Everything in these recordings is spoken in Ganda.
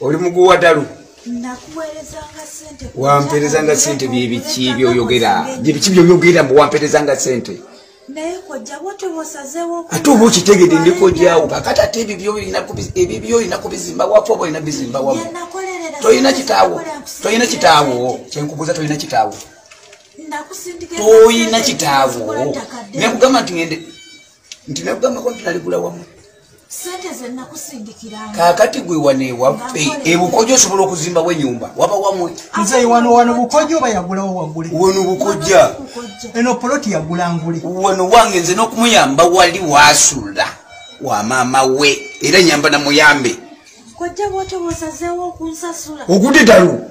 oli muguwa dalu wamperezanga sente byebiki byoyogera byebiki byoyogera mbu wamperezanga sente ate oba okitegede ndikojawo kakati ate ebibyo olina kubizimba wafu oba olina bizimba wamu tolina kitaawo tolina kitaawo kyenkubuuza tolina kitaawo tolina kitaawo nekugamba nti ngende nti nakugambako nti naligula wamu kakati gwe wano ewaffe ebukoja osobola okuzimbawo enyumba waba wamwe wano bukoja oba yagulawo wagule wano bukoja eno poloti yagula ngule wano wange nze nokumuyamba wali wasula wa maama we era nyamba namuyambe ogudde dalu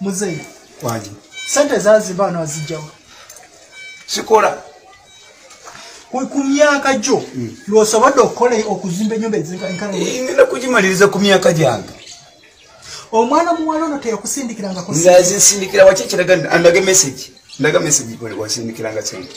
muzeyi kwani sente zazimba wano azijjawo sikola ku myaka gyo hmm. lwosobodde okukola okuzimba enyumba ezinkangenda kugimaliriza ku myaka gyange omwana muwala ono teyakusindikirangako nzazisindikira waki ekiraga ndaga message ndaga message wasindikiranga sente